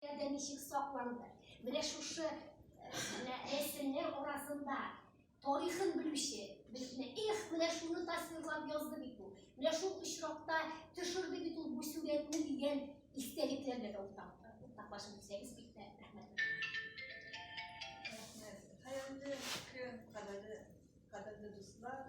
Дә ничек сакланды? Менә шушы менә рәсемнәр арасында тарихын белүче безне эх, менә шуны тасвирлап язды бит бу. Менә шул очракта төшерде бит ул бу сурәтне дигән истәлекләр дә уртак. Уртаклашып бирсәгез бик тә рәхмәт. Рәхмәт. Хәерле көн, кадерле дуслар.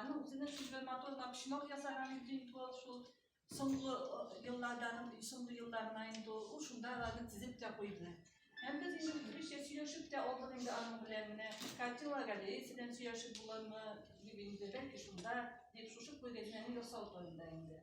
Аның үзенә сүзләр матур да почмак ясаган инде инде ул шул соңгы еллардан соңгы елларына инде ул шунда аларны тезеп тә куйды. Һәм без инде үзебезчә сөйләшеп тә алдык инде аның белән менә картина галереясы белән сөйләшеп буламы дип инде бәлки шунда дип шушы күргәзмәне ясау турында инде.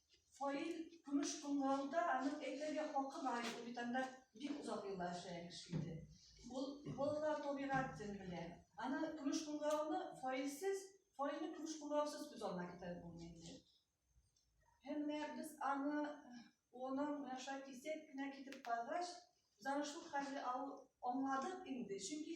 Фаил көмеш кыңгырауда аның әйтергә хакы бар иде, бит анда бик озак еллар эшләгән кеше иде. Ул балалар табигать тел белә. Аны көмеш кыңгырауны фаилсез, фаилне көмеш кыңгыраусыз күз алдына китереп булмый инде. Һәм без аны оның менә шулай кисәк кенә китеп баргач, Занышлык хәле аңладык инде, чөнки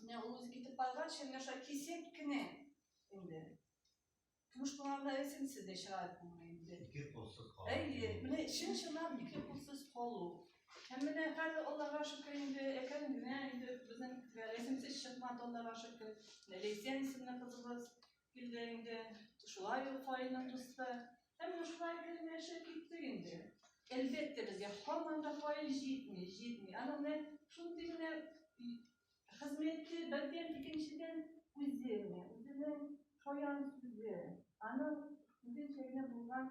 Менә ул үзе китеп барганчы, менә шулай кисеп кенә инде. Көмеш кулларда эсенсез дә чыгар күңел инде. Ике кулсыз калу. Әйе, менә чын чынлап ике кулсыз калу. Һәм менә хәзер Аллага шөкер инде, әкрен генә инде безнең рәсемсез чыкмады Аллага шөкер. Ләйсән исемле кызыбыз Килде инде, шулай ул каенның дусты. Һәм шулай генә яшәп киттек инде. Әлбәттә, безгә һаман да каен җитми, җитми. Аның менә шундый генә хезмәте бердән икенчедән үзе генә, үзенең шаян сүзе, аның үзенчә генә булган